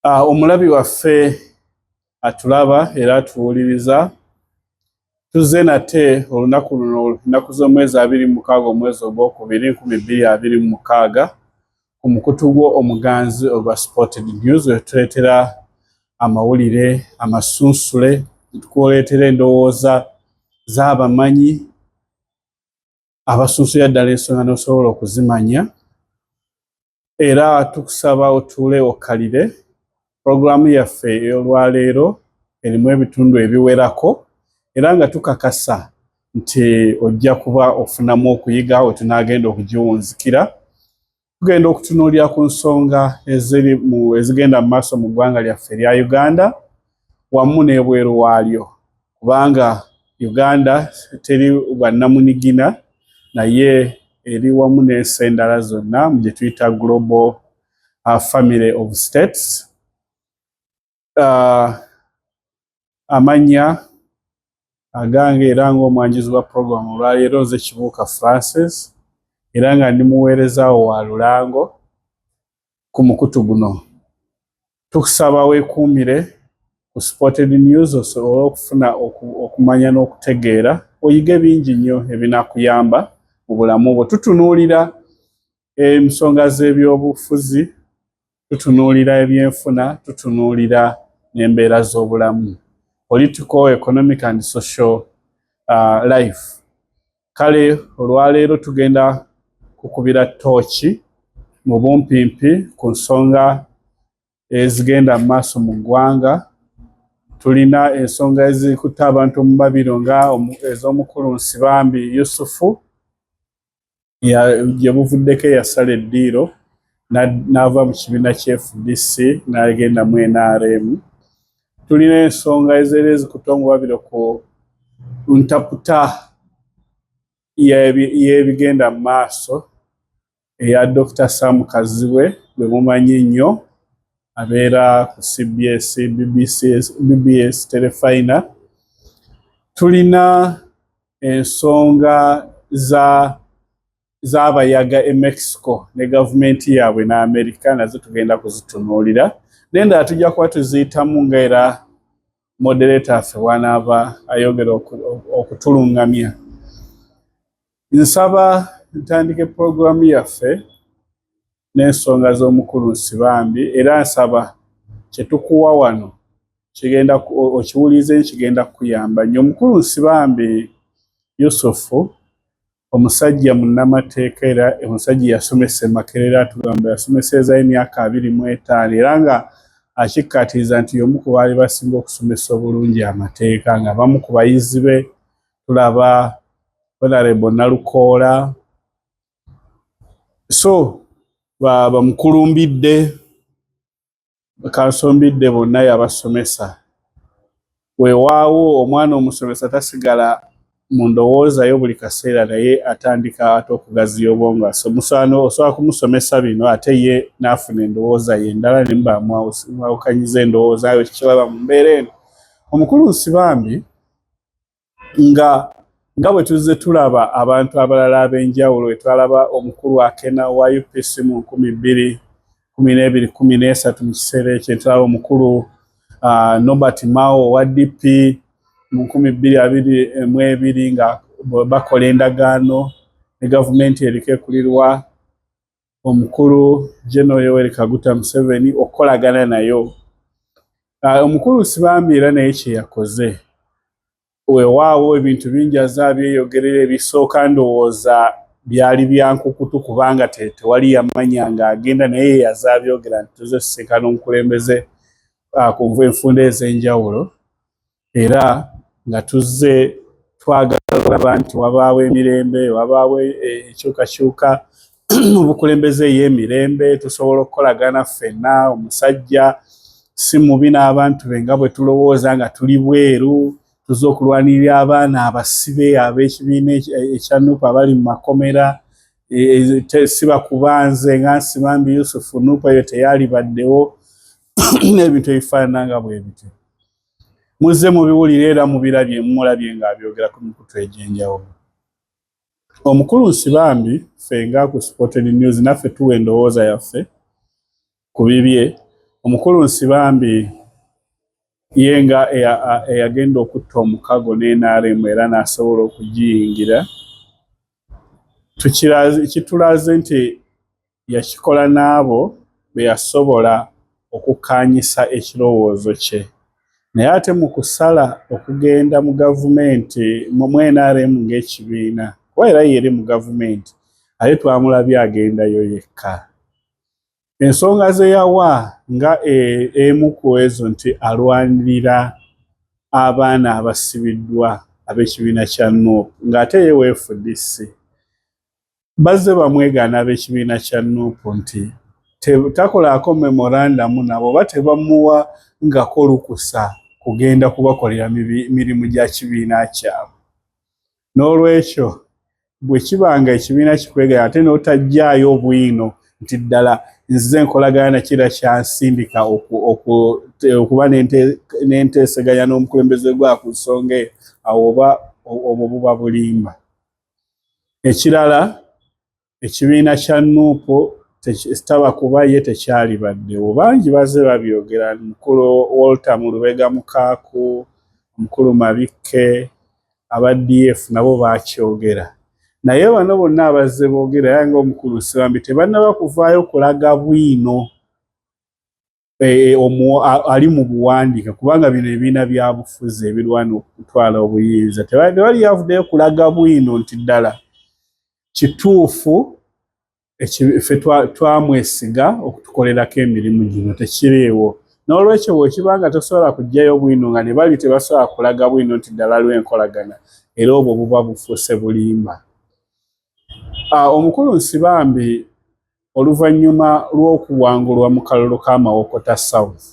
Ah, omulabi waffe atulaba era atuwuliriza tuzze nate olunaku luno ennaku z'omwezi abiri mu mukaaga omwezi ogwokubiri nkumi bbiri abiri mu mukaaga ku mukutu gwo omuganzi ogwa sported news wetuleetera amawulire amasunsule tukuleetera endowooza z'abamanyi abasunsulira ddala ensonga n'osobola okuzimanya era tukusaba otuule okkalire. Pulogulaamu yaffe ey'olwaleero erimu ebitundu ebiwerako era nga tukakasa nti ojja kuba ofunamu okuyiga we tunaagenda okugiwunzikira. Tugenda okutunuulira ku nsonga ezigenda mu maaso mu ggwanga lyaffe erya Uganda. wamu n'ebweru waalyo kubanga Uganda teri bwannamunigina naye eri wamu n'ensi endala zonna mu gye tuyita global uh, family of states uh, amannya agange era ng'omwanjuzi wa puroguramu olwaleero nze kibuuka francis era nga ndi muweerezaawo wa lulango ku mukutu guno Tukusaba weekuumire ku Spotted News osobole okufuna okumanya n'okutegeera, oyige bingi nnyo ebinakuyamba mu bulamu bwo. Tutunuulira ensonga z'ebyobufuzi, tutunuulira ebyenfuna, tutunuulira n'embeera z'obulamu, political, economic and social uh, life. kale olwaleero tugenda kukubira tooki mu bumpimpi ku nsonga ezigenda mu maaso mu ggwanga tulina ensonga ezikutte abantu mu mabiro nga ez'omukulu nsibambi yusufu gye buvuddeko eyasala eddiiro n'ava mu kibiina kya fdc n'agenda mu nrm tulina ensonga ezeera ezikuta omubabiro ku ntaputa y'ebigenda mu maaso eya Dokita Sam Kazibwe gwe mumanyi ennyo abeera ku CBS, BBC, BBS Telefina. Tulina ensonga za z'abayaga e Mexico ne gavumenti yaabwe n'Amerika nazo tugenda kuzitunuulira naye ndala tujja kuba tuziyitamu nga era modereta affe wanaaba ayogera okutulungamya nsaba ntandike pulogulaamu yaffe n'ensonga z'omukulu nsibambi era nsaba kyetukuwa wano kigenda okiwulize kigenda kukuyamba nyo omukulu nsibambi yusufu Omusajja munnamateeka era omusajja yasomesa e Makerere atugamba yasomeseezayo emyaka abiri mu etaano era nga akikkaatiriza nti y'omu ku baali basinga okusomesa obulungi amateeka nga bamu ku bayizi be tulaba Honorable Nalukoola so bamukulumbidde Kansombidde bonna yabasomesa. Weewaawo omwana omusomesa tasigala mu ndowooza yo buli kaseera naye atandika ate okugaziya obwongo musaano osobola kumusomesa bino ate ye n'afuna endowooza ye endala ne mubamwawukanyiza endowooza yo kikiraba mu mbeera eno omukulu nsi bambi nga nga bwe tuzze tulaba abantu abalala ab'enjawulo bwe twalaba omukulu akena wa UPC mu nkumi bbiri kumi n'ebiri kumi n'esatu mu kiseera ekyo tulaba omukulu uh, Nobert Mao owa DP mu nkumi bbiri abiri mu ebiri nga bakola endagaano ne gavumenti eriko ekulirwa omukulu General Yoweri Kaguta Museveni okukolagana nayo ah, omukulu sibambi era naye kyeyakoze wewaawo ebintu bingi aza byeyogerera ebisooka ndowooza byali byankukutu kubanga tewali yamanya nga agenda naye yaza byogera nti tuze tusinkana omukulembeze ah, kunva enfunda ez'enjawulo era nga tuzze twagala okulaba nti wabaawo emirembe wabaawo ekyukakyuka mu bukulembeze ey'emirembe tusobola okukolagana ffenna omusajja si mubi n'abantu be nga bwe tulowooza nga tuli bweru tuze okulwanirira abaana abasibe ab'ekibiina ekya nupu abali mu makomera e, e, siba kubanze nga nsibambi yusufu nupu eyo teyalibaddewo n'ebintu ebifaanana nga bwe bityo Muzze mubiwulira era mubirabye mulabye ng'abyogera ku mikutu egy'enjawulo. Omukulu Nsibambi ffe nga ku Supported News naffe tuwa endowooza yaffe ku bibye. Omukulu Nsibambi ye nga eyagenda okutta omukago ne NRM era n'asobola okugiyingira kitulaze nti yakikola n'abo be yasobola okukkaanyisa ekirowoozo kye naye ate mu kusala okugenda mu gavumenti mu nrm ng'ekibiina kuba era yeeri mu gavumenti ate twamulabye agendayo yekka ensonga ze yawa nga e-, emu ku ezo nti alwanirira abaana abasibiddwa ab'ekibiina kya nup ng'ate ye wfdc bazze bamwegaana ab'ekibiina kya nup nti takolaako memorandamu nabo oba tebamuwa ngako lukusa kugenda kubakolera mirimu gya kibiina kyabwe n'olwekyo bwe kiba nga ekibiina kikwegaya ate n'otajjaayo obwino nti ddala nzize enkolagana nakira kyansindika okuba n'enteeseganya n'omukulembeze gwa ku nsonga eyo awo oba obwo buba bulimba ekirala ekibiina kya nuupu sitaba kuba ye tekyalibaddewo bangi bazze babyogera mukulu walter mu lubega mukaaku omukulu mabikke aba df nabo bakyogera naye bano bonna abazze boogera era ngaomukulu nsibambi tebannaba kuvaayo kulaga bwino e, ali mu buwandiika kubanga bino ebiina byabufuzi ebirwana okutwala obuyinza tewali yavuddeyo kulaga bwino nti ddala kituufu ffe twamwesiga okutukolerako emirimu gino tekiriiwo n'olwekyo bwekiba nga tosobola kujjayo bwino nga ne bali tebasobola kulaga bwino nti ddala lwenkolagana era obwo buba bufuuse bulimba ah, omukulu nsibambi oluvannyuma lw'okuwangulwa mu kalulu ka Mawokota South.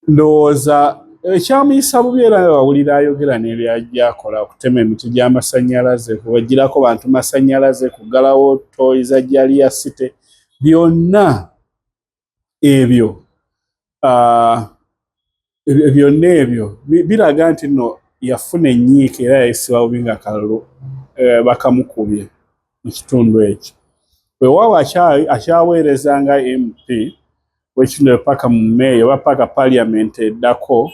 Ndowooza ekyamuyisa bubi era wawulira ayogera n'ebyajja akola okutema emiti gy'amasannyalaze, kubagirako bantu masannyalaze, kuggalawo tooyi za Jalia City, byonna ebyo byonna ebyo biraga nti no yafuna enyiika era yayisibwa bubi nga kalulu eh, bakamukubye mu kitundu ekyo wewawo akyaweereza nga mp wekino paka mu meeyo oba paka parliament eddako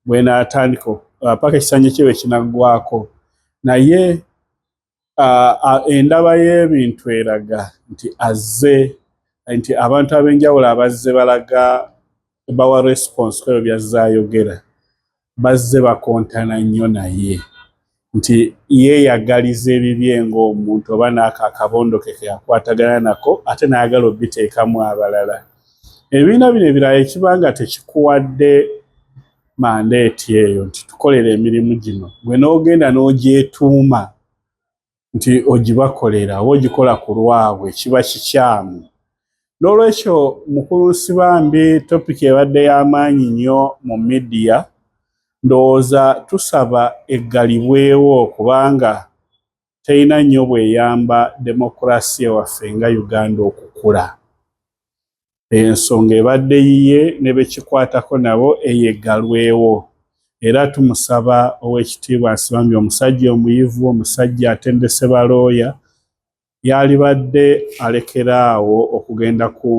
bwenatandika paka ekisanja kyewe kinaggwako naye endaba y'ebintu eraga nti azze nti abantu ab'enjawulo abazze balaga bawa response kweyo byazze ayogera bazze bakontana nnyo naye nti yeeyagaliza ebibye ng'omuntu oba naako akabondo ke keyakwatagana nako ate n'ayagala obiteekamu abalala ebibiina bino ebirala ekiba nga tekikuwadde mandeeti eyo nti tukolera emirimu gino gwe n'ogenda n'ogyetuuma nti ogibakolera oba ogikola ku lwabwe kiba kikyamu n'olwekyo mukulu nsibambi topiki ebadde y'amaanyi nnyo mu midiya ndowooza tusaba eggalibwewo kubanga terina nnyo bweyamba demokulasiya waffe nga uganda okukula ensonga ebadde yiye ne bekikwatako nabo eyeggalwewo era tumusaba ow'ekitiibwa Nsibambi omusajja omuyivu omusajja atendese balooya yaalibadde alekera awo okugenda ku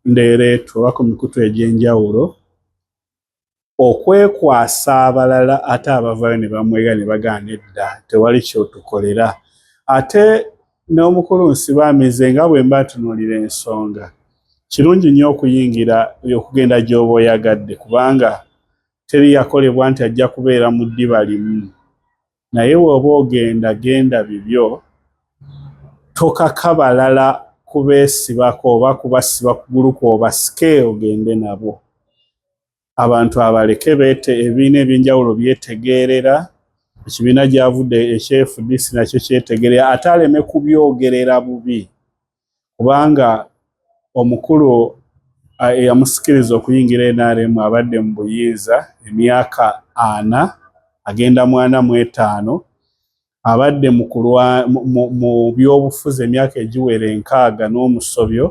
ndeereetu oba ku mikutu egy'enjawulo okwekwasa abalala ate abavayo ne bamwega ne bagaana edda tewali kyotukolera ate n'omukulu nsibaamize nga bwe mba ntunuulira ensonga kirungi nnyo okuyingira okugenda gy'oba oyagadde kubanga teri yakolebwa nti ajja kubeera mu ddiba limu Naye bwoba ogenda genda bibyo tokaka balala kubesibako oba kubasiba kugulu kwoba sike ogende nabo abantu abaleke bete ebiina ebyenjawulo byetegeerera ekibiina gyavude ekye fdc nakyo kyetegerea ate aleme kubyogerera bubi kubanga omukulu eyamusikiriza okuyingira nrm abadde mu buyinza emyaka ana agenda mwana mu etaano abadde mu byobufuzi emyaka egiwera enkaaga n'omusobyo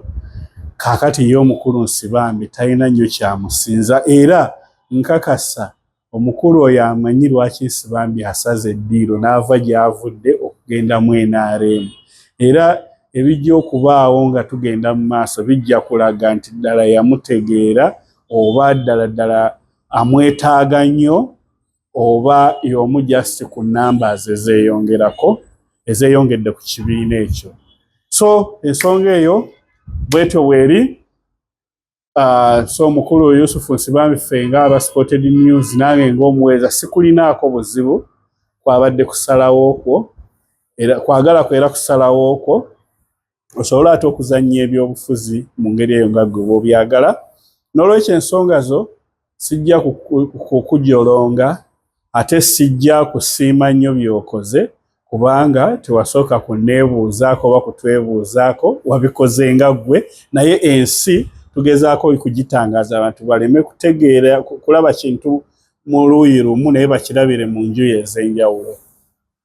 kakati ye omukulu nsibambi talina nnyo kyamusinza era nkakasa Omukulu oyo amanyi lwaki Nsibambi asaze eddiiro n'ava gy'avudde okugenda mu nrm era ebijja okubaawo nga tugenda mu maaso bijja kulaga nti ddala yamutegeera oba ddala ddala amwetaaga nnyo oba y'omu just ku nnamba ze zeeyongerako ezeeyongedde ku kibiina ekyo. So ensonga eyo bwetyo weeri. Uh, so mukulu Yusufu Nsibambi ffe nga aba Spotted News nange ng'omuweereza sikulinaako buzibu kwabadde kusalawo kwo era kwagala kwo era kusalawo kwo osobola ate okuzannya ebyobufuzi mu ngeri eyo nga gwe bwobyagala n'olwekyo ensonga zo sijja kukujolonga ate sijja kusiima nnyo by'okoze kubanga tewasooka kunneebuuzaako oba kutwebuuzaako wabikoze nga ggwe naye ensi tugezaako kugitangaaza abantu baleme kutegeera kulaba kintu mu luuyi lumu naye bakirabire mu njuyi ez'enjawulo